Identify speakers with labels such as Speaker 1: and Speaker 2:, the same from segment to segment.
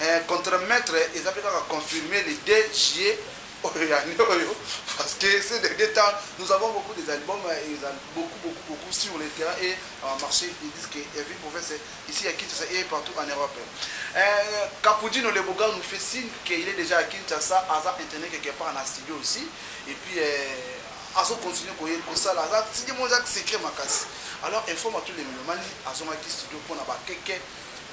Speaker 1: Eeh contre maitre eza pe kaka confirme le deux juillet oyo ya annee oyo parce que ces derniers temps nous avons beaucoup des albums eza beaucoup beaucoup beaucoup sur le terrain et en marche des disques ya ville province ici à Kinshasa et partout en Europe. Eeh Capudino le Boga nous fait signe que il est dejà à Kinshasa aza internet quelque part na studio aussi et puis eeh azo continuer ko ye kosala aza CD moko eza secret makasi alors informe à tous les melomanes azongaki studio pona ba KK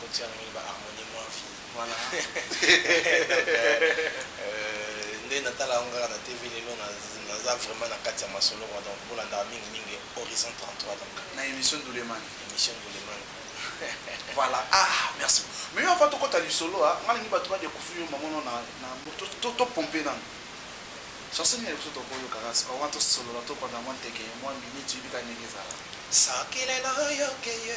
Speaker 2: Kotia namoni ba harmonie moins fini wana nde natala yango kaka na TV lelo naza vraiment na kati ya masolo kwa donc bolandaka mingi mingi Horizon 33 donc na emission Nduleman
Speaker 1: emission Nduleman
Speaker 2: voilà
Speaker 1: ah merci mais yo avant tokota lisolo ah, nga nalingi bato badekufri yo mamono na topompe nano chanson nini biso tokoyokaka sikoyo wana tosolola topanda mwa nteke mwa miniti yebika ndenge ezala sakile na
Speaker 2: yoke ye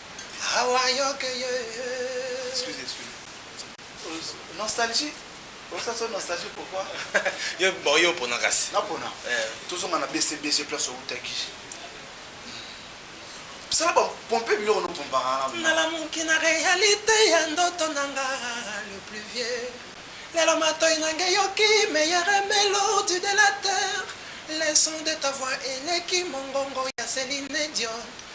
Speaker 2: Awa yoke ye Excusez,
Speaker 1: excusez. Nostalgie Osa so nostalgie pourquoi? Yo bon
Speaker 2: yo pona kasi. Na pona. Eh.
Speaker 1: Tozonga na BCBC place outaki. Sala ba pompe biloko no pompa na. Nalamuki na
Speaker 2: realite ya ndoto na nga le plus vieux. Lelo matoi na nge yoki meilleure melodie de la terre. Le son de ta voix eleki mongongo ya Celine Dion.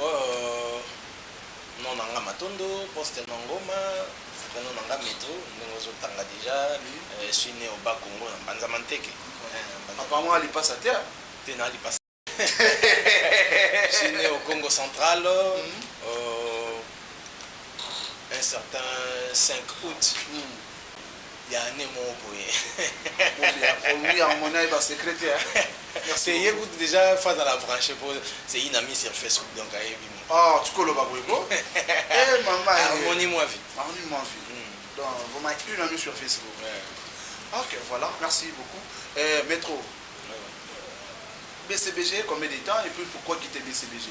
Speaker 1: Ooh
Speaker 2: nom na nga matondo poste nom ngoma prenom na nga metro ndenge ozo tanga dejà je suis ne au bas congo na mbanza manteke papa yango
Speaker 1: a lipasa te? te na lipasa
Speaker 2: je suis ne au congo central un certain 5 aout ya annee moko boye
Speaker 1: Oluyi yango mona ye ba secret te hein. Te ye
Speaker 2: kutu dejà Fazal a branche po c'est une amie sur Facebook donc ayebi mua. Oh tu koloba
Speaker 1: boye ko eh mama eh. Harmonie mua vie.
Speaker 2: Harmonie mua vie.
Speaker 1: Donc vraiment une amie sur Facebook. Ouais. Ok voilà merci beaucoup eh metro. BCBG combien de temps et puis pourquoi quitter BCBG?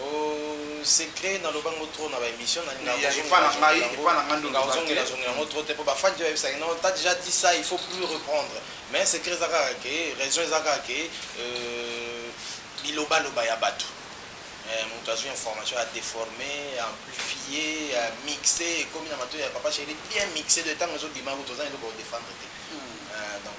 Speaker 1: Ooh
Speaker 2: secret na loba ngo trop na ba emission na lingaka ko zongela
Speaker 1: zongela ngo lingaka ko zongela zongela ngo trop te po
Speaker 2: ba fans pe ba yebisa ke non t'as dejà dit ça il faut plus reprendre mais secret eza kaka ke raison eza kaka ke euh biloba loba ya batu eh mutu azui information a deforme a amplifie a mixe ekomi na matoyi ya papa chéri bien mixe de tangu ezo bima kutu oza na eloko ya ko defendre te donc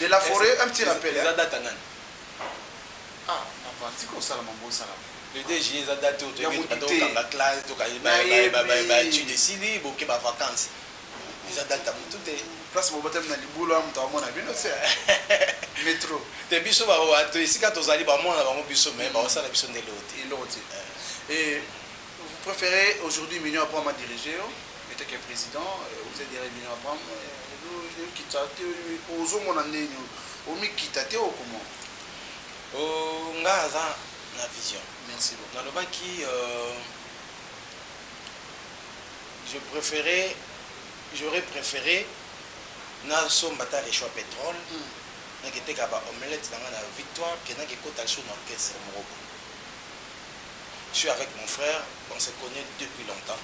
Speaker 1: De la foret un petit rappel hein. Eza date ya nani? Ah na parti ko sala mambo osala boye. Le 2 juillet eza
Speaker 2: date oyo toyebi ete bato kanga classe to kaye ba ba ba ba etude esili boke ba vacances. Eza
Speaker 3: date ya mutu te. Place bo batami na libulu
Speaker 1: wana mutu amona bino tse. Metro. Te biso
Speaker 3: ba esika tozali ba mona bango biso mais ba osala biso nde eloko te. Eloko te. Eh.
Speaker 1: Et Vous preferez aujourd'hui Mignon Abraham a diriger yo en tant que president, vous êtes derrière Mignon Abraham, okitisa te, ozo mona ndenge omi kita te ou comment? Ooh
Speaker 3: nga aza na vision. Merci beaucoup. Na lobaki
Speaker 1: euh,
Speaker 3: je preferais j'aurais préféré na somba ta le choix pétrole. Mm. naketeka ba omelette na nga na victoire ke nakekota sur na orchestre moko boye je suis avec mon frère on se connait depuis longtemps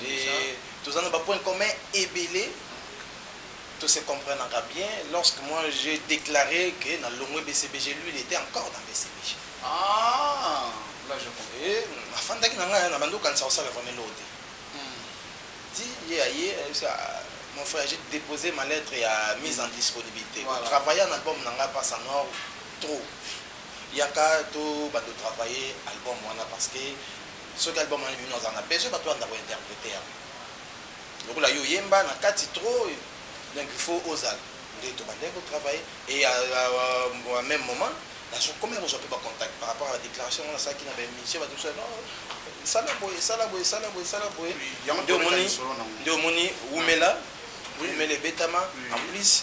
Speaker 1: et toza
Speaker 3: na ba
Speaker 1: points
Speaker 3: communs ebele to se comprenaka bien lorsque moi j'ai déclaré que na longwe BCBG lui il était encore dans BCBG ah
Speaker 1: là je comprends et afandaki na
Speaker 3: ngai na bando kanisa osala vraiment eloko te ti ye aye mon frère j'ai déposé ma lettre ya mise en disponibilité voilà. travailler en album
Speaker 1: na ngai
Speaker 3: passe en or trop Yaka to bando travaille album wana parce que soki album wana ebimi naza na besoin batu balanda ko interpreter yango lokola yo oyemba na kati trop donc il faut ozala nde to bandaki ko travailler et à, à, à, à même moment nazo komi kozwa mpe ba contact par rapport à la déclaration wana asalaki na ba émission bato mosusu non sala boye sala boye sala boye sala boye nde omoni nde omoni wumela wumela ebetama en plus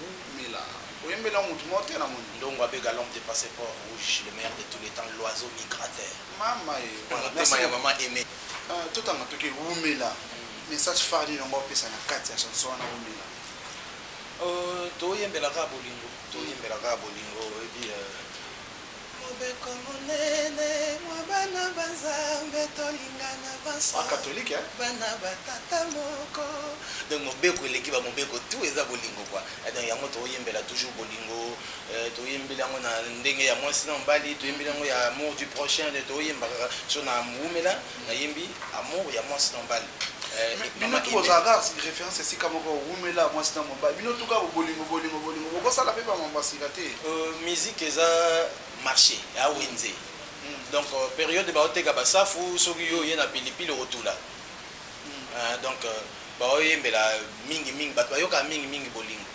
Speaker 3: Wumela
Speaker 1: oyembeli yango mutu moko te na moni. Ndongo abega l'homme de
Speaker 3: passeport rouge le meilleur de tous les temps l'oiseau migrateur Mama ee na voilà
Speaker 1: motema merci ya
Speaker 3: beaucoup. maman aime. Ahh totanga toke
Speaker 1: wumela message phare nini olingi opesa na kati ya chanson wana wumela? Ooh toyembela
Speaker 3: kaka bolingo toyembela kaka bolingo oyebi euh.
Speaker 2: Mobeko monene mwa bana ba Nzambe Tolingana banso bana
Speaker 1: ba
Speaker 2: tata moko. Donc mobeko
Speaker 3: eleki ba mobeko tout eza bolingo quoi eh, donc yango toyembela toujours bolingo eh, toyembeli yango na ndenge ya mwasi na mobali toyembeli yango ya amour du prochain toyemba kaka so na wumela nayembi amour ya mwasi na mobali eh, bino tu
Speaker 1: bozalaka reference esika moko wumela mwasi na mobali bino tu kaka bolingo bolingo bolingo bokosala mpe bamambo asika te euh, musique eza
Speaker 3: marché ya wenze hmm. donc euh, période baoteka basafu soki yo oye na pilipili okotula hmm. euh, donc baoyembela mingi mingi bato bayokaka mingi mingi bolingo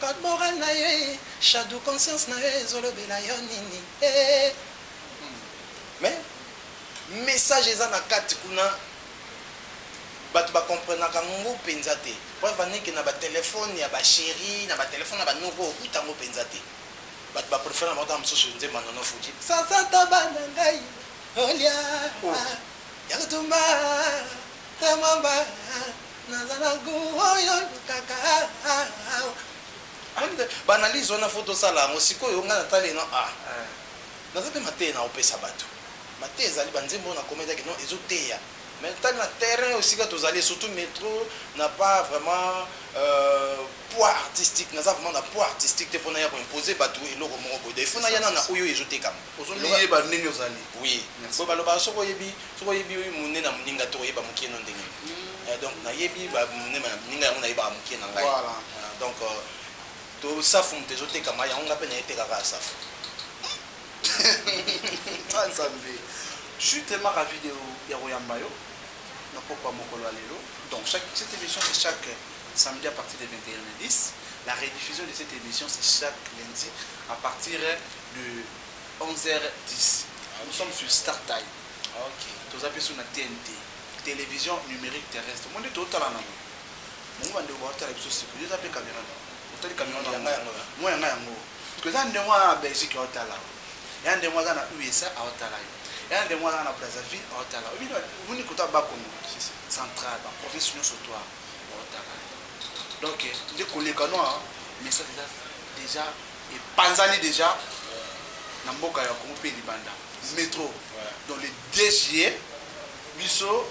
Speaker 2: Caporal na ye Shadou conscience na yo ezo lobela yo nini eeh.
Speaker 3: Mais message eza na kati kuna batu ba comprenaka ngo penza te preuve en est que na ba telephone ya ba cherie na ba telephone ya ba noko okuta yango penza te batu ba prefere na bango tango mosusu nzembo ya Nono Fuji sasa taba na
Speaker 2: ngai olia oh. ya kotumba ta mwamba Naza na gout oyo olukaka
Speaker 3: awa. Alinga ba analyse wana faut tosala yango sikoyo ngai natali eno a naza mpe mateya na opesa bato mateya ezali banzembo oyo na komedaki non ezoteya mais tali na terrain oyo esika tozali surtout metro na pas vraiment euh, poids artistique naza vraiment na poids artistique te mpo naya koimpose bato eloko moko boye donc il faut nayana na oyo ezotekama ozoyeba ndenge
Speaker 1: ozali oui boye balobaka
Speaker 3: soki oyebi Soki oyebi munene ya muninga te okoyeba mukie no ndenge nini? Donc na yebi ba munene ya muninga yango na yebaka mukie na ngai donc to safu mutu ezo tekama yango ngai pe naye teka kaka safu
Speaker 1: ah nzambe je suis tellement ravi de ya koyamba yo na pokwa mokolo ya lelo donc chaque cette émission c'est chaque samedi à partir de 21h10 la rediffusion de cette émission c'est chaque lundi à partir de 11h10 nous sommes sur star time toza
Speaker 3: pe sur na
Speaker 1: tnt television numerique terrestre omoni to tala na ngo bango ba ndeko ba tala biso siko yo za pe camera na otali camera na nga yango moi nga yango que za ndeko na Belgique au tala ya ndeko aza na USA au tala yo ya ndeko aza na Brazzaville au tala obi moni kota ba Congo central ba province nyoso toi au tala donc nde koleka noa message eza déjà Epanzani dejà na mboka ya Congo mpe libanda metro donc le deux juillet biso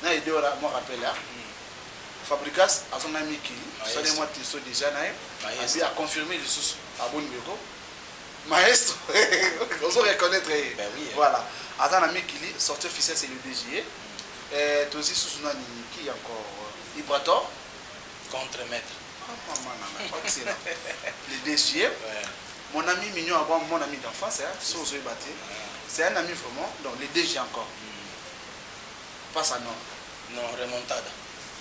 Speaker 1: na Edora mwa rappel ya Fabricas azo na miki sale mwa teso dejà na ye abi a confirmer lisusu aboni ndeko maestro ozo reconnaître ye voilà
Speaker 3: aza na
Speaker 1: mikili sortie officielle c'est le deux juillet euh, tozi susu nani qui encore Ibrator contre
Speaker 3: maître
Speaker 1: mon ami mignon avant mon ami d'enfance hein si vous avez battu c'est un ami vraiment donc les deux encore hmm. pas ça non non remontada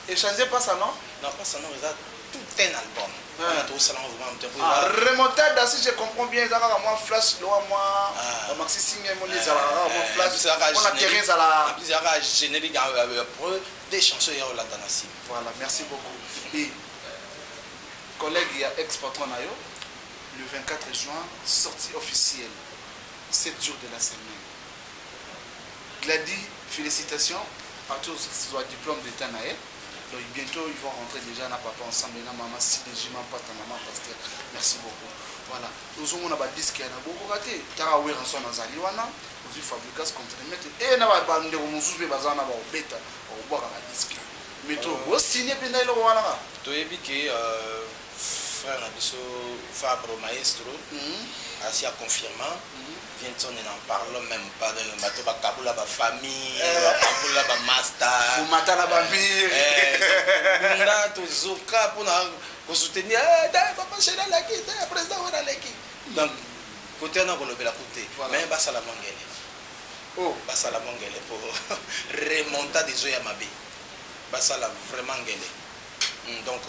Speaker 3: échanger pas
Speaker 1: ça non non pas ça non regarde
Speaker 3: tout un album wana tokosalanga vraiment remontada
Speaker 1: si je comprends bien eza kaka mwa flash lowa mwa bamaxi singe moni ezalaka kaka mwa flash mpona terrain ezalaka
Speaker 3: générique ya preux des chansons ya olanda na nsima Voilà merci
Speaker 1: beaucoup Bibi collègue ya ex patron na yo le 24 juin sortie officielle 7 jours de la semaine Glady félicitations atozwa diplôme d'état na ye donc bientôt ils vont rentrer déjà na papa ensemble na mama cdg mampata mama pasteur merci beaucoup voilà ozomona badisque ya na bokoka te tara weranson azali wana ozwi fabricas contre mete e na bandeko mosusu mpe baza wana baobeta Bakobwaka ba disque metro bo signe penza eloko wana kaka. Toyebi ke
Speaker 3: frère na biso Fabro maestro asi a confirma Vincent ne n'en parlons meme pas donc bato ba kabola ba famille ba kabola ba masta komata na ba mur
Speaker 1: tobunda
Speaker 3: tozoka pona ko soutenir eh papa Sheri aleki eh president Werra aleki donc cote wana kolobela kutu te mais basala mua ngele. Oh basala bo ngele po remontade ezo ya mabe basala vraiment ngele hum donc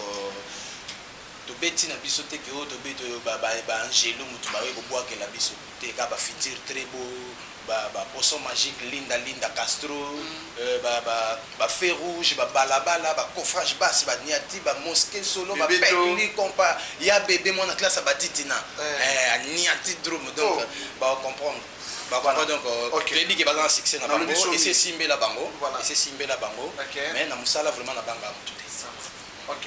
Speaker 3: tobeti na biso te ke oyo tobeti oyo ba ba ba angelu mutu baye kobuakela biso te ka ba future tres bo ba ba poisson magique linda linda castro euh ba ba ba feu rouge ba bala bala ba coffrage bas ba niati ba mosquee solo ba Bebeto. pekli compa ya bebe mwana classe ya ba titina Eh. eh aniati drum donc Oh. ba comprendre ba comprendre donc euh, okay. toyebi ke baza na succès na bango esi esimbela bango voilà. esi esimbela bango okay. mais na mosala vraiment na banga motu te ok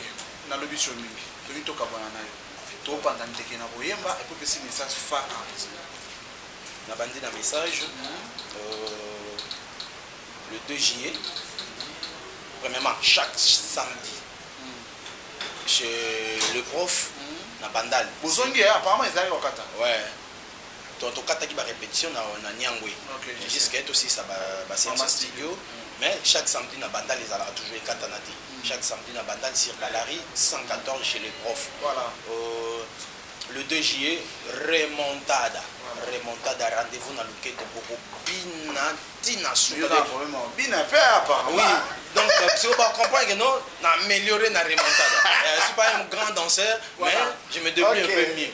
Speaker 1: nalobi so mingi toki tokabwana na yo topanza ndeke na koyemba epo pesi message fa
Speaker 3: nabandi na message mhm. euh, le 2 juillet premièrement chaque samedi mhm. chez le prof mhm. na bandal bozongi eh, apparemment
Speaker 1: ezalaki kokata ouais to
Speaker 3: to kataki ba repetition na na Nyangwe okay, mais jusqu'à to sisa ba ba séance studio mm. mais chaque samedi na bandal ezalaka toujours ekatana te mm. chaque samedi na bandal sur Balari 114 chez les profs voilà
Speaker 1: euh,
Speaker 3: le 2 juillet remontada voilà. remontada rendez-vous na loketo boko bina tina suka
Speaker 1: bina pe apa oui donc euh,
Speaker 3: si vous comprenez que non na améliorer na remontada euh, je suis pas un grand danseur voilà. mais je me débrouille okay. un peu mieux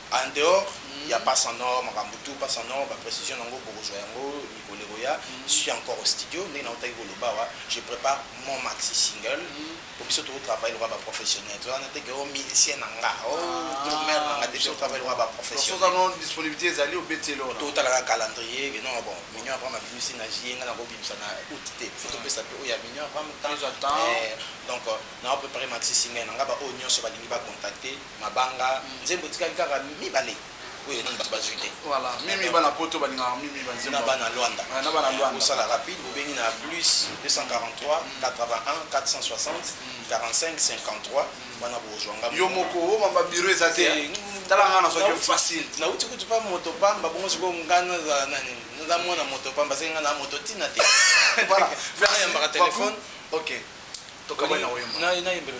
Speaker 3: En dehors ya Passe en Or, makambo tout Passe en Or, ba precisions na yango bokozua yango mikolo ekoya. Je suis encore au studio, ndenge nawutaki koloba awa, je prepare mon maxi single, po biso tozo travailler lokola ba professionnels, toza wana te que oh musicien na nga, oh drumeur na nga te, biso to travaille lokola ba professionnels. Donc soki aza no disponibilite
Speaker 1: ezali obeti ye lokola. To tala kaka calendrier
Speaker 3: que non bon Mignon Abraham abimisi na juillet, nga nako bimisa na aout te, il faut to pesa pe oyo ya Mignon Abraham temps, donc nao preparer maxi single na nga, ba oyo nionso balingi ba contacter. Mabanga nzembo etikali kaka mibale oyo ya nanu batu bazui te. Voilà mimi bana
Speaker 1: poto balingaka mimi ba nzembo. Na bana luanda. Ouais, na
Speaker 3: bana luanda. Bosala rapide bobengi na plus 243 81 460 45 53 wana bozua nga. Yo moko o mamba bureau
Speaker 1: eza te. Tala nga na soki facile. Na uti kutu pa moto
Speaker 3: pamba bongo siko nga na za nani. Nga mwana moto pamba siko nga na moto tina te. Voilà.
Speaker 1: Merci. Yamba ka
Speaker 3: telephone. OK. Toka
Speaker 1: bana oyamba. Na na yembelo.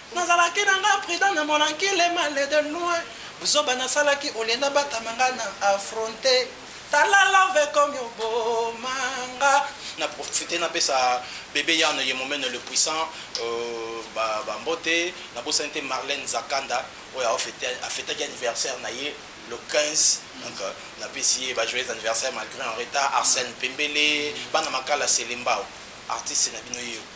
Speaker 2: Nazalaki na nga prudent na monanki le mal de loin buzoba nasalaki au lieu na batama nga na affronter tala love ekomi oboma nga na profiter
Speaker 3: na pesa bebe Yann ye momene le puissant euh, ba, ba mbote na bosani te Marlène Zakanda oyo afetaki anniversaire na ye le 15 donc euh, na pesi ye ba joyeux anniversaire malgré en retard Arsène Pembele bana makala Selembao artiste na bino yeyo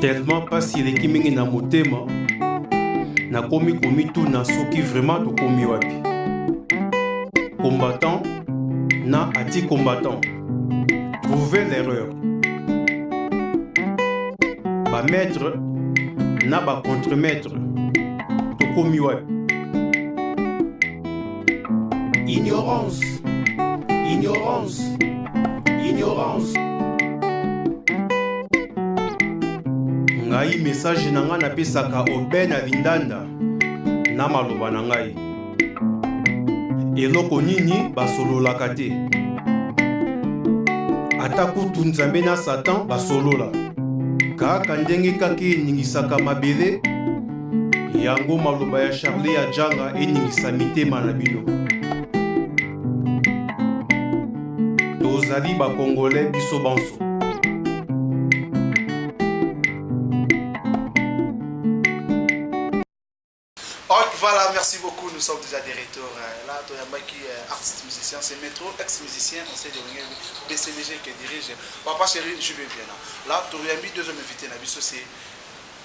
Speaker 4: tellement mpasi eleki mingi na motema nakomi komituna soki vraiment tokomi wapi combattant na ati combattant trouver l'erreur bamaître na bacontremaître tokomi wapi Ignorance, ignorance, ignorance. ngai message na ngai napesaka oben avindanda na maloba na ngai eloko nini basololaka te ata kutu nzambe na satan basolola kaka ndenge kaka eningisaka mabele Yango maloba ya Charlie Ajanga eningisa mitema na bino. Tozali ba Congolais biso banso.
Speaker 1: Voilà, merci beaucoup. Nous sommes déjà de retour. Euh, là, Toyambaki, euh, artiste musicien, c'est Métro, ex-musicien, on sait de BCDG qui dirige. Papa chéri, je vais bien là. Là, Toyambi, deuxième invité, c'est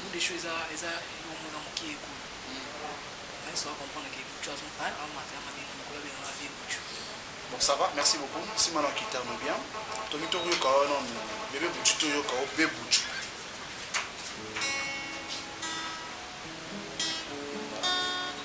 Speaker 5: Bout de chou eza eza eloko moko eza mukie ekolo nani soki a comprendre que boutchou azo hein amata yanga bino mukolo abenga nga vieux boutchou. Bon ça
Speaker 1: va merci beaucoup sima na kitano bien tomi to yoka wana bebe boutchou to yoka o be boutchou.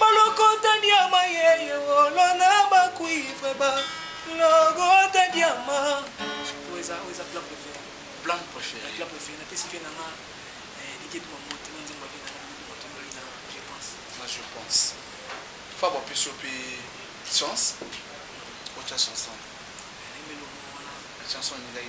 Speaker 2: Balokota diama ye ye wolo na ba cuivre ba lokota diama oyo eza oyo
Speaker 5: eza plan préféré plan préféré
Speaker 3: plan préféré na pesi vie na
Speaker 5: nga dike tuma moto na nzemba vie na nga dike moto ngai na je pense na je pense
Speaker 3: fa ba pesi ope chance ocha chanson
Speaker 5: chanson ngai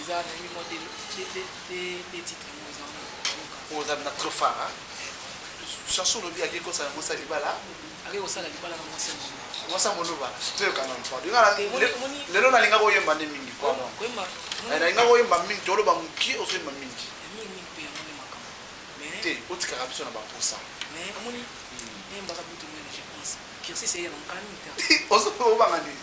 Speaker 5: eza na mi mwa de titre yango eza mpo oza na trop far
Speaker 3: chanson olobi ake kosa yango sa libala ake kosala libala
Speaker 5: na mwasi yango mwasi yango oloba
Speaker 3: toyoka na mpo lelo nalinga koyemba nde mingi
Speaker 5: nalinga koyemba
Speaker 3: mingi toloba mokie ozoyemba mingi te
Speaker 5: otikaka biso na
Speaker 3: baposa
Speaker 5: obanga
Speaker 3: nini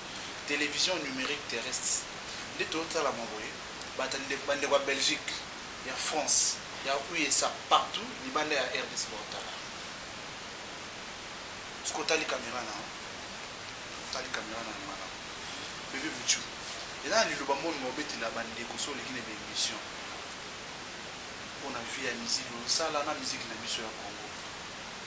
Speaker 1: television numerique terrestre nde tozo tala mua boye bata ndeko ba ndeko ya Belgique ya France ya USA partout libanda ya rdc bao tala yo soki otali camera na yo otali camera na yo malamu bebe buchu eza na liloba moni nga obetela ba ndeko so oleki na ba emission pona vie ya musique ozosala na musique na biso ya Congo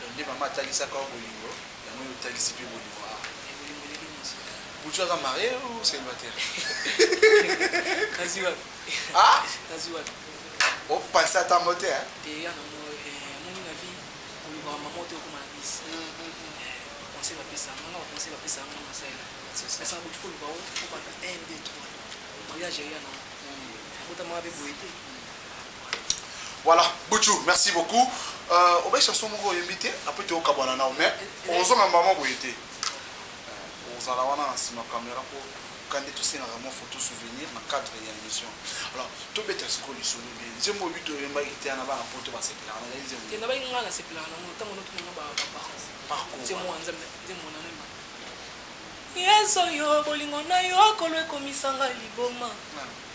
Speaker 5: Donc nde
Speaker 1: mama atalisaka yo bolingo, yango yo otalisi pe bolingo awa. Bolingo ndenge nini
Speaker 5: sikoyo? Butshu aza marie
Speaker 1: ou celibataire?
Speaker 5: Nazwi wapi? Ah? Nazwi wapi? O penser
Speaker 1: ata yango te hein? Te ya na moi eh
Speaker 5: moni na vie olukaka mama ote okoma na bis. Conseil ba pesa nga ba conseil ba pesa nga na salela. Pesa butu ko luka o ko banda 1 2 3 mariage ya na. Abota mama pe boye te.
Speaker 1: Voilà buchu merci beaucoup euh, obe chanson moko oyembi te après tokabwana nao mais ozonga mbama boye te euh, ozala wana na nsima kamera mpo kande tosengaka mwa photo souvenir na cadre ya émission alors tobeta sikoyo lisolo bie nzembo obi toyembaki te na bana poto basepelaka na ngai nzembo nabaki ngai nasepelaka
Speaker 5: nango ntango notunanga baparence nzembo ya nzambe nzembo na nayemba yesu yo bolingo na yo akolo ekomisanga liboma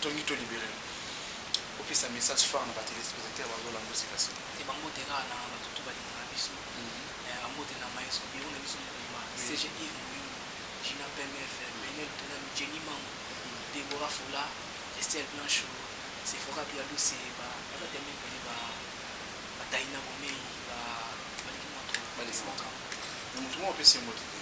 Speaker 1: Tongi to liberer bopesa message fort na ba telespectateurs bazo landa yo sika sika. Ba mbote kaka
Speaker 5: na batu tout balingaka biso ba mbote na maestro biro na biso mobimba CG Yves Muyulu, Gina PMF, Penielle Tolalu, Jenny Mango, Deborah Fola, Estelle Blancho, Sephora Bialuse, ba naza tellement ebele ba ba Taina Bomeyi ba baleki mua trop. Baleki mua trop mais mutu moko apesi
Speaker 1: yo mbote te.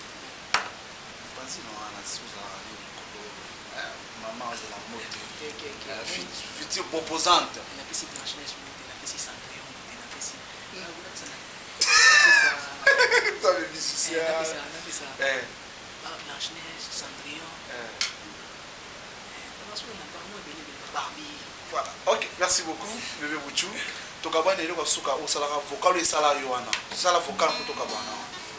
Speaker 5: merci
Speaker 1: beaucoup bebe buchu tokabwana eloko ya suka osalaka vocal esala yo wana sala vocal mpo tokabwana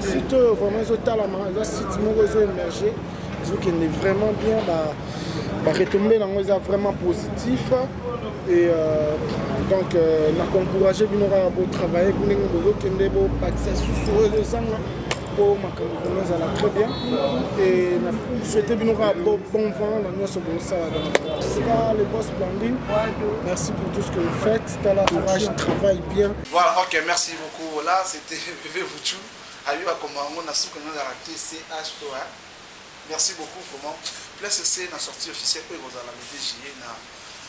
Speaker 5: site oyo
Speaker 6: vraiment ezotalama eza site moko ezo émerge ezokende vraiment bien baretombe ba yango eza vraiment positif et euh, donc euh, nakoencourage bino kaka botravaille ndenge bozokende bobakisa susu oyo ezozanga mpo makambo vraimen ezala très bien et na souhaite bino kaka bon vent na nyonso bosala sika le boss blandine merci pour tout ce que vous faites tala courage travaille bien Voilà ok merci
Speaker 1: beaucoup voilà c'était Bebe Boutchou ayebi bakoma yango na suka yango ezalaka te CHO hein merci beaucoup vraiment place ese na sortie officielle oyo ekozala le 2 juillet na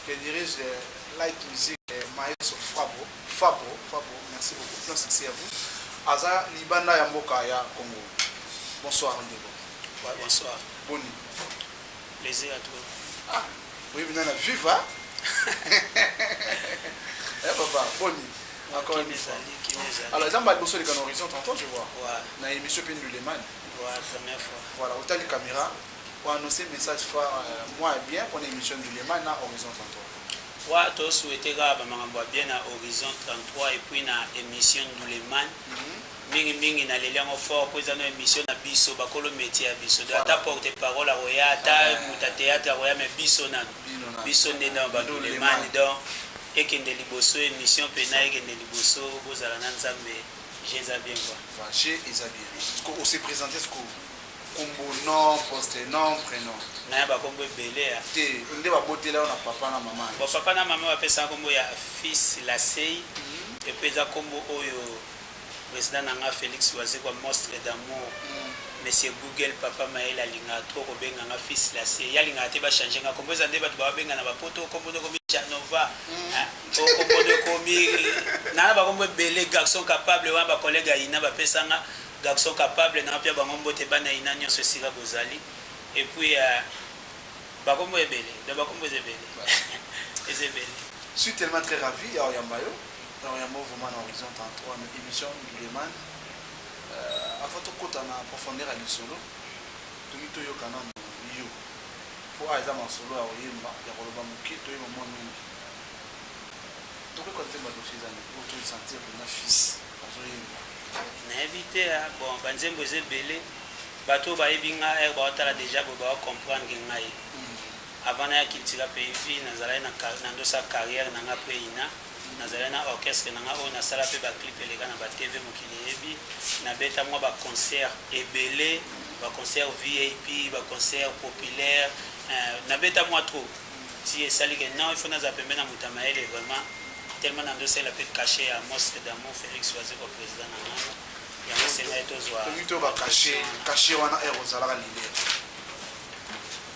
Speaker 1: le dirige euh, light music euh, maestro Fabo Fabo Fabo merci beaucoup plein succès à vous aza libanda ya mboka ya Congo bonsoir ndeko ouais, bonsoir
Speaker 7: boni plaisir à toi ah oui
Speaker 1: bina na viva eh papa boni encore une fois alors eza mbala liboso oleka na horizon tantôt je vois na émission mpe
Speaker 7: nduleman
Speaker 1: voilà
Speaker 7: otali caméra
Speaker 1: oannonce message fois euh, moi bien mpona émission nduleman na horizon tantôt wa tosouhaite
Speaker 7: kaka bamakambo ya bien na horizon 33 epuis na émission nduleman mm -hmm. Mingi mingi na leli yango fort po eza no emission na biso ba kolo metier ya biso donc ata porte parole akoya ata mutu ya theatre akoya mais biso nanu biso nde nanu ba nduleman donc ekende liboso emission pena ekende liboso bozala na nzambe jeux eza bien quoi jeux eza bien
Speaker 1: sikoyo ose presenter sikoyo kombo nom poste nom prénom naye bakombo
Speaker 7: ebele ya te nde babotela
Speaker 1: yo na papa na mama bo papa na mama bapesaka
Speaker 7: kombo ya fils lasei mhm. epe eza kombo oyo President na nga Felix Wazekwa monstre d'amour Monsieur Google papa mayele alingaka trop kobenga nga fils l'acier ye alingaka te ba changer nga kombo eza nde batu ba benga na ba poto kombo nde okomi Canova hein oh kombo nde okomi na na ba kombo ebele garçon capable wana ba collègues ya ina ba pesa nga garçon capable na pia bango mbote bana ya ina nionso esika bozali et puis euh, ba kombo ebele donc ba kombo eza ebele eza ebele. Suis
Speaker 1: tellement très ravi ya oyamba yo. Donc yango vraiment na horizon 33 mais emission Nduleman euh avant tokota na profondeur ya lisolo tolingi toyoka nanu yo po awa eza masolo ya koyemba ya koloba moke toyeba mwa mingi tokoki koyeba nzembo ya dofi eza nini po to sentir mpenza fils azoyemba nayebi
Speaker 7: te ah, bon banzembo eza ebele bato oyo bayebi ngai ere eh, baotala deja boye baocomprendre ngai Avant naya Cultura Peifi, nazalaki na na ndosa carrière nanga après Ina, nazalaki na orchestre nanga oyo nasala pe ba clip eleka na ba TV mokili eyebi, nabeta mwa ba concerts ebele, ba concerts VIP, ba concerts populaires eh, nabeta mwa trop ti esali ke non il faut nazala pembeni ya moto ya mayele vraiment tellement na ndosela pe cachet ya monstre d'amour Felix Wazekwa president na ngai yango esengai tozwa Toki to ba cachet,
Speaker 1: cachet wana heure ozalaka leader.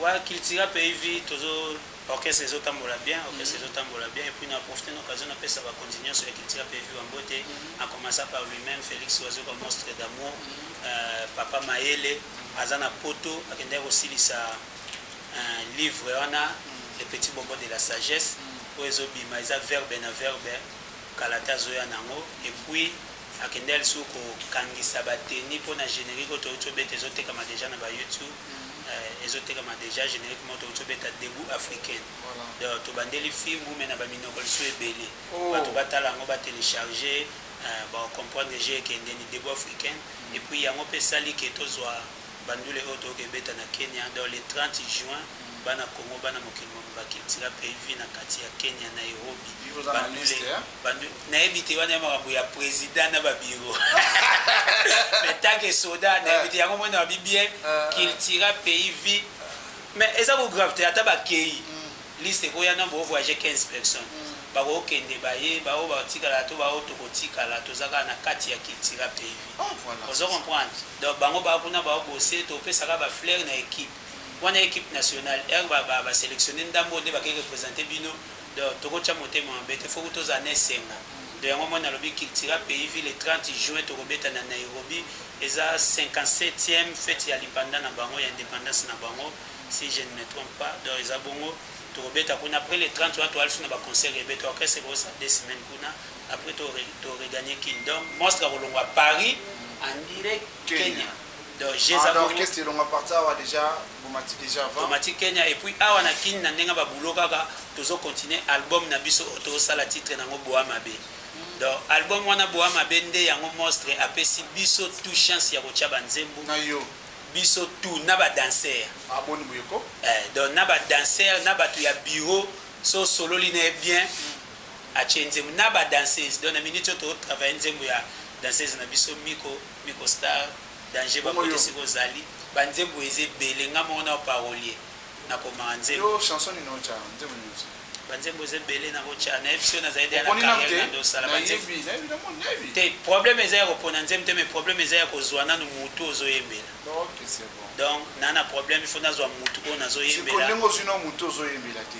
Speaker 1: Ouais
Speaker 7: cultura pays vie tozo orchestre ezo tambola bien orchestre ezo tambola bien et puis na profiter na occasion na pesa ba konzi nionso ya cultura pays vie ba mbote en commençant par lui même Felix Wazoka monstre d'amour euh, papa Mayele aza na poto akendaki kosilisa un livre wana le petit bonbon de la sagesse oyo ezobima eza verbe na verbe kala te azoya nango et puis akendaki lisusu kokangisa bateni mpo na générique oyo touti obeta ezotekama deja na ba youtube Eh, ezo tekama deja generique moto uti obeta debout africaine donc tobandeli fimbu me na baminoko lisu ebele oh. bato batala yango batelecharge eh, bacomprendre je ekendeni debout africaine et puis yango mpe esali ke tozwa bandule oyo toyoka ebeta na kenya donc le 30 juin bana congo bana mokili mobimba cultura mpe vi na kati ya kenya nairobi bandule Bandu, nayebi te wana ya makambo ya president na ba bureau mais tant que soda nayebi te yango mona babi bien cultura pays vie mais eza ko grave te ata bakei liste ekoya na bo voyage 15 personnes bakokende baye baoyo batikala to baoyo tokotikala toza kaka na kati ya cultura pays vie ozo comprendre donc bango baa kuna baobose topesaka ba fleur na equipe wana equipe nationale heure ba ba selectionne ndambo nde bakei representer bino Donc toko tia motema mabe te foku tozala na esenga donc yango omoni nalobi cultura pays vie le 30 juin toko beta na Nairobi eza 57ème fete ya lipanda na bango ya independance na bango si je ne me trompe pas donc eza bongo toko beta kuna après le 30 wana toya lisusu na ba concert ebete orchestre eko sa deux semaines kuna après to to regagner kin donc monstre akolongwa Paris en direct Kenya. Donc je za bongo. Orchestre elonga parti
Speaker 1: awa deja bomati deja avant. Bomati Kenya et puis awa
Speaker 7: na kin na ndenga ba boulot kaka tozo continuer album na biso oyo tozo sala titre nango boa mabe. Donc album wana boa mabe nde yango monstre apesi biso tout chance ya kotia ba nzembo. Na yo.
Speaker 1: Biso tout
Speaker 7: na ba danseurs. Ah boni boyeko.
Speaker 1: Eh donc na ba
Speaker 7: danseurs na batu ya bureau so sololi na bien. Mm. atie nzembo na ba danseuses donc na minute oyo to travailler nzembo ya danseuse na biso miko miko star danger ba kote sika ozali ba nzembo eza ebele nga moko nao parolier na komaka nzembo yo chanson nini otia
Speaker 1: nzembo nini otia ba nzembo eza ebele
Speaker 7: na kotia na episode na zali na carrière na ndo sala ba nzembo te problème eza ya ko pona nzembo te mais problème eza ya ko zwa nanu mutu ozo yembela ok c'est bon
Speaker 1: donc nana problème
Speaker 7: il faut nazwa mutu oyo nazo yembela sikoyo ndenge ozwi na mutu
Speaker 1: ozo yembela te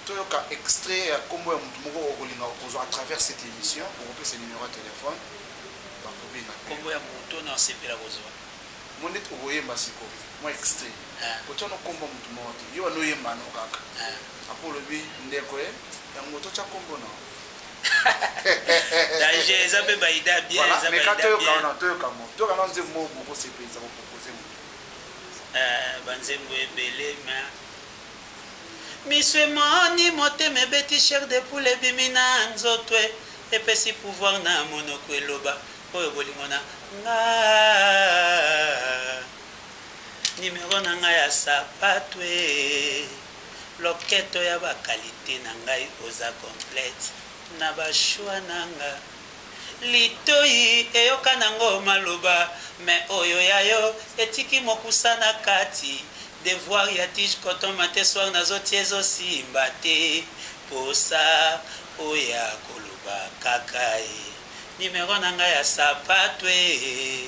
Speaker 1: toyoka extrait ya kombo ya mutu moko okolinga okozua à travers cette emission okopesa numero ya telephone bakobenga
Speaker 7: pe kombo ya mutu na osepela kozua omoni ndeti
Speaker 1: okoyemba siko mua extrait kotia no kombo ya mutu moko te yo banda oyemba no kaka apres olobi ndeko eh yango totia kombo nao
Speaker 7: danger eza pe ba idee ya bien eza ba idee ya bien toyoka wana toyoka mo toyoka na
Speaker 1: nzembo moko bokosepelisa ko proposer mo ba nzembo
Speaker 7: ebele mais Misu emoni motema ebeti chair de poule ebimi na nzoto eh Epesi pouvoir na monoko eloba oyo bolingo na nga Numero na nga ya sapatu eh Loketo ya ba qualite na ngai oza complete na ba choix na nga Litoyi eyoka nango maloba mais oyo ya yo etiki mokusa na kati Devoir ya tige coton matin soir nazo tia ezo simba te Posa oya koloba kaka eh Numero na nga ya sapatu eh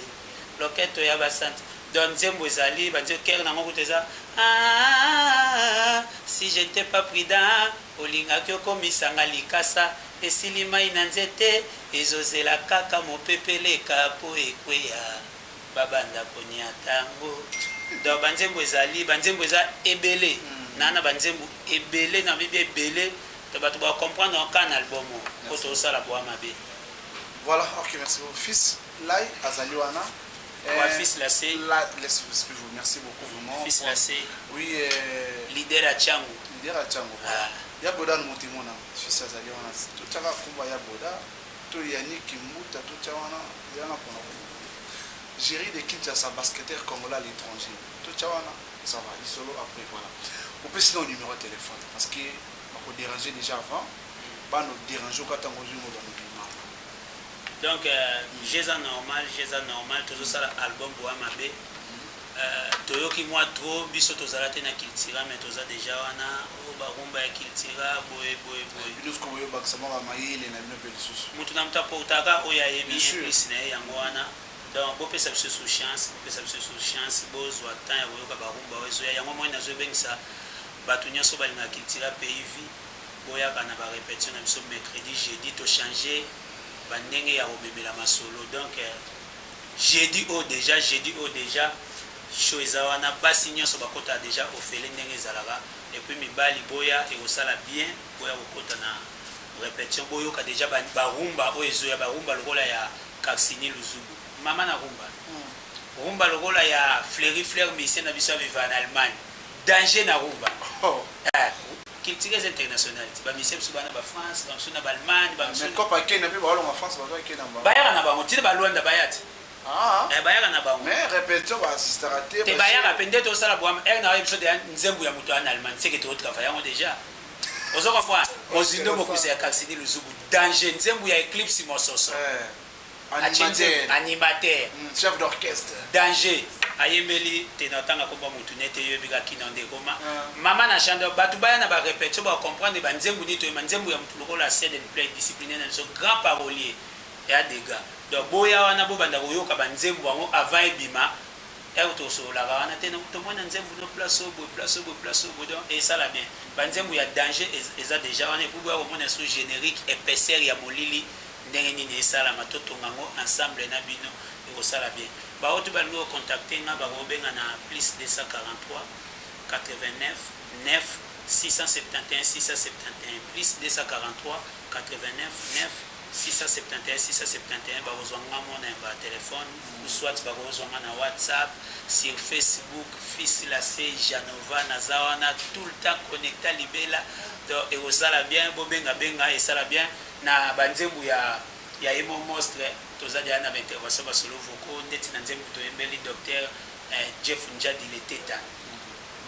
Speaker 7: Loketo ya ba cent Don nzembo ezali ba nzembo coeur nango kutu eza aah Si je n'etais pas prudent Olingaki okomisa nga likasa esili mayi na nzete ezo zela kaka mopepe eleka po ekweya ba banda ko niata ngo donc ba nzembo ezali ba nzembo eza ebele na na ba nzembo ebele na lobi ebele donc batu bako comprendre ngo kaka na album oyo po tozo sala boa mabe. Voilà
Speaker 1: ok merci beaucoup fils. Lay azali wana eh, ouais, fils
Speaker 7: la se la laisse respect vous
Speaker 1: merci beaucoup vraiment fils la se oui
Speaker 7: eh,
Speaker 1: leader à
Speaker 7: Chango leader à Chango voilà
Speaker 1: ah. ya boda no motimo na fils azali wana to tchaka kumba ya boda to Yannick Kimbuta to tcha wana ya na pona ko Jerry de Kinshasa basketteur congolais à l'étranger to tcha wana ça va il solo après voilà on peut sinon numéro de téléphone parce que on peut déranger déjà avant mm. ba no déranger au katango du monde
Speaker 7: Donc jeux eza normal jeux eza normal tozo sala album boya mabe toyoki mua trop biso tozala te na cultura mais toza deja wana oh ba rumba ya cultura boye boye boye bino siko boye
Speaker 1: bakisa mwa ba mayele na bino pe lisusu mutu na mutu aportaka
Speaker 7: oyo ayebi plus na ye yango wana donc bopesa biso sous chance bopesa biso sous chance bozwa temps ya koyoka ba rumba oyo ezoya yango moi nazo ebengisa bato nyonso balingaka cultura pays vie Boyaka na ba repetition na biso mercredi jeudi to change ba ndenge ya komemela masolo donc jeudi oyo deja jeudi oyo deja show eza wana basi nionso bakota deja ofele ndenge ezalaka et puis mibali boya ekosala bien boya kokota na repetition boyoka deja ba, ba rumba oyo ezoya ba rumba lokola ya Kaksini Luzubu mama na rumba rumba lokola ya Fleury Fleur musicien na biso ya viva na Allemagne danger na rumba eh, Culture eza internationale ti ba musiciens bisusu baya na ba France ba misusu na ba Allemagne ba misusu Mais coop ya Kenya pe ba longa
Speaker 1: France ba zwa Kenya mbala. Bayaka na bango ti na ba
Speaker 7: Luanda baya ti. Ah Eh bayaka na bango. Mais repetition ba
Speaker 1: assistaka te. Te bayaka pe nde to sala
Speaker 7: bwa heure na yo biso deja nzembu ya mutu aya na Allemagne seke to travailler yango deja. Ozo comprendre? Mozindo mokuse ya Caxini Luzubu danger nzembu ya Eclipse Mososo. Eh. Animateur. Animateur. Hum, chef d'orchestre.
Speaker 1: Danger
Speaker 7: ayembeli te na otanga kombo ya mutu nete yo ebika kino nde ekoma. Mama na chandor batu baya na ba repetition ba comprendre ba nzembu nini toyemba nzembu ya mutu lokola set and play discipline na biso grand parolier ya degat donc boya wana bobanda koyoka ba nzembu yango avant ebima heure tosololaka wana te donc tomoni na nzembu no place oyo boye place oyo boye place oyo boye donc esala bien ba nzembu ya danger eza deja wana epuis boya komona sous generique epaisseur ya molili Ndenge nini esalama totonga yango ensemble na bino ekosala bien baoto balingi ko contacte nga bako obenga na plus 249671671671 bakozua nga mon number ya telephone ou soit bakozua nga na whatsapp sur facebook fils lasse janova naza wana tout le temps connecta libela donc ekozala bien bobenga benga esala bien. Na ba nzembu ya ya ye moko mostre toza deja na ba intervention ba solo vocaux ndeti na nzembu toyembeli Docteur eh Jeff Ndjadi le Teta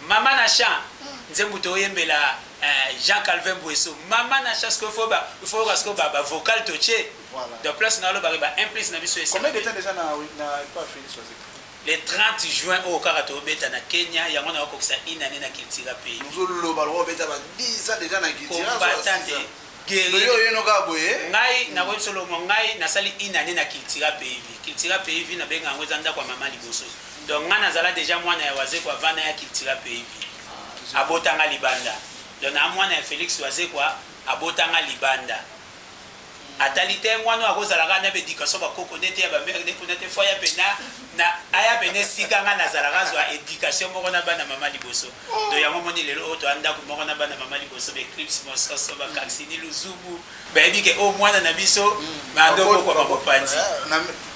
Speaker 7: Mama na chant nzembu toyembela eh Jean Calvin Mbueso Mama na chant sikoyo il faut ba il faut oyoka sikoyo ba ba vocal totie donc place na oloba ke ba un plus na biso esi Combien de temps dejà na
Speaker 1: na epa Felix Wazekwa? Le 30
Speaker 7: juin oyo kaka tozo beta na Kenya yango nako kokisa une annee na Cultura pays. Ozo loba lokola obeta
Speaker 1: ba 10 ans dejà na Cultura? Combattants Guerrier. Yo oyeno kaka
Speaker 7: boye? Ngai nakoyebi solo moko, ngai nasali une annee na Cultura PIV. Cultura PIV nabenga yango eza ndako ya mama liboso. Donc ngai nazala dejà mwana ya Wazekwa avant naya Cultura PIV. Abota ngai libanda. Donc naa mwana ya Felix Wazekwa, abota ngai libanda. Atali te mwana oyo akozala kaka na ba education ba koko nete ya ba mère nde kuna te faut aya pe na na aya pe na esika ngai nazalaka azwa education moko na bana mama liboso. Donc yango omoni lelo oyo toya ndaku moko na bana mama liboso ba eclipse mososo ba kaksini luzubu bayebi ke oyo mwana na biso banda obokwama mopanzi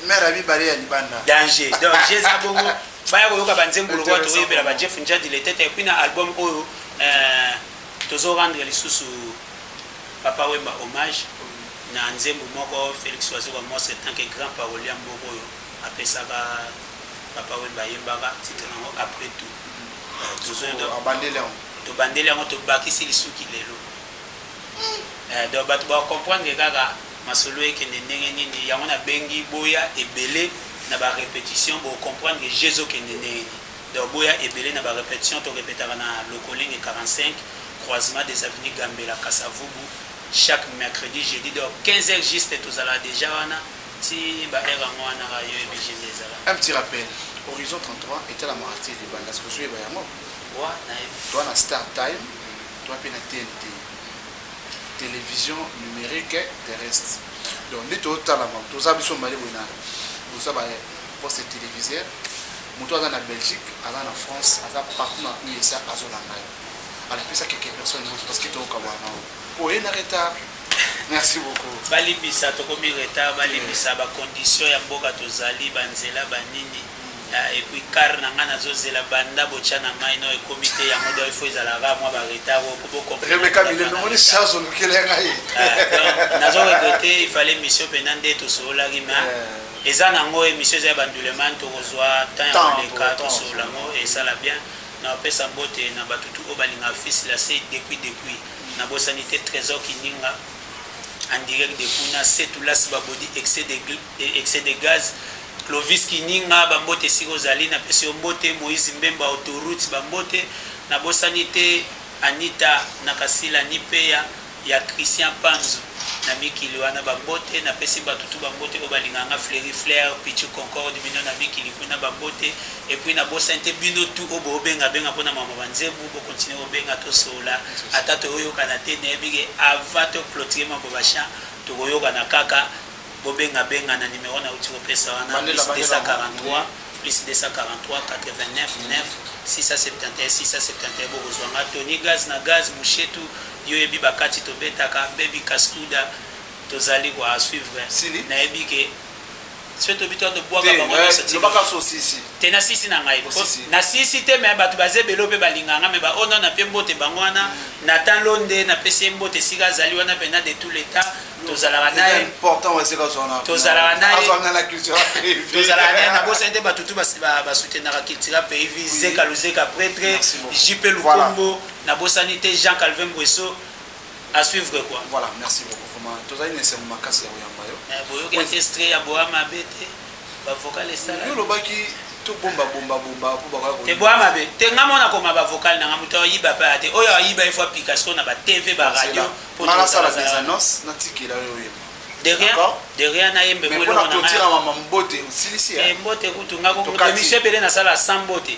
Speaker 7: mère
Speaker 1: ya mibale ya libanda danger donc je eza
Speaker 7: bongo baya koyoka banzembo lokola tokoyebela ba jeff njadi letete epuis na album oyo tozo rendre lisusu papa wemba hommage na nzembo moko felix wazoka mose tant que grand parolier moko oyo Apesaka Papa Wemba ayembaka titre na ngo après tout tobandeli yango tobakisi lisuki lelo donc batu ba comprendre kaka masolo ekende ndenge nini yango na bengi boya ebele na ba repetition bo comprendre je ezokende ndenge nini donc boya ebele na ba repetition to repetaka na lokolenge 45 croisement des avenues Gambela Kasavubu chaque mercredi jeudi donc 15 heures juste tozalaka deja wana Ti ba heure yango wana ka yo ebg nde ezalaka. Un petit rappel,
Speaker 1: Horizon 33 etala Mara TV banda sikoyo ozoyeba yango? Wa nayebi.
Speaker 7: Toa na Star
Speaker 1: Time, toa mpe na TNT. Television numerique terrestre. Donc nde totala bango, toza biso mibale boye na boza ba poste téléviseur. Moto aza na Belgique, aza na France, aza partout na USA azolanda yo. Alapesa quelques personnes parce que toyoka bwana. Oye na retard merci beaucoup. Balimbisa tokomi
Speaker 7: retard balimbisa ba conditions ya mboka tozali ba nzela ba nini euh, et puis car na nga nazo zela banda botia na ngai no ekomi te yango donc il faut ezala kaka mwa ba retard oko bo comprendre Rebecca Mile no moni charge
Speaker 1: olukela ngai euh, nazo
Speaker 7: regretter il fallait mission pena nde tosololaki mais euh. eza nango emission eza ya banduleman tokozwa temps ya koleka tosolola ngo esala bien Na pesa mbote na batu tout oyo ba lingaka fils la se depuis depuis na bosani te tresor kininga en direct de kuna setu las ba body excès de excès de gaz clovis kininga ba mbote esika ozali na pesi yo mbote moise mbemba autoroute ba mbote na bosani te anita na kasila ni peya ya Christian Panzu na mikili wana ba mbote na pesi batu tout ba mbote oyo balingaka nga Fleury Flair, Pitshou Concorde bino na mikili kuna ba mbote et puis na bosani te bino tout oyo bo benga benga pona makambo ya ba nzebu bo continuer ko benga to solola ata toyo yokana te nayebi ke avant to cloturer makambo ba chant toko yokana kaka bo benga benga na numero na wuti ko pesa wana plus 243 plus 243 89 9 671 671 boko zua nga Tony Gaz na Gaz Mouchetou Yo yebi ba kati tobetaka baby kaskuda tozali ko a suivre Sili. na yebi ke soki tobi to to bwaka Te, bango eh, nionso ti loba kaka so sisi.
Speaker 1: te na sisi na ngai
Speaker 7: Po po- sisi. na sisi te me bato baza ebele oyo mpe balingaka ngai me ba oyo nao na mpe mbote bango wana na tan londe na pesi ye mbote esika azali wana mpena de tout l'etat tozalaka na ye important wa sika zona
Speaker 1: Tozalaka na ye. azwa nga
Speaker 7: na culture
Speaker 1: tozalaka na ye
Speaker 7: nabosani te bato tu bas- ba- basutenaka cultura pays vie zeka luzeka pretre Merci beaucoup. jp Voilà. lukombo na bosani te Jean Calvin Nguesso à suivre quoi voilà merci beaucoup vraiment
Speaker 1: tozali na esengo makasi ya koyamba yo eh, boyoki orchestre ya
Speaker 7: boa mabe te bavocal esala yo olobaki
Speaker 1: tobomba bomba bomba mpo bakoya te boa mabe te nga
Speaker 7: mona koma bavocal na nga moto ayiba mpe ate oyo ayiba efo apika siko na batv baradio mpo nasala des
Speaker 1: annonce natikela yo oyeba derrière
Speaker 7: nayembe
Speaker 1: mbote kutu nga
Speaker 7: emission ebele nasala sans mbote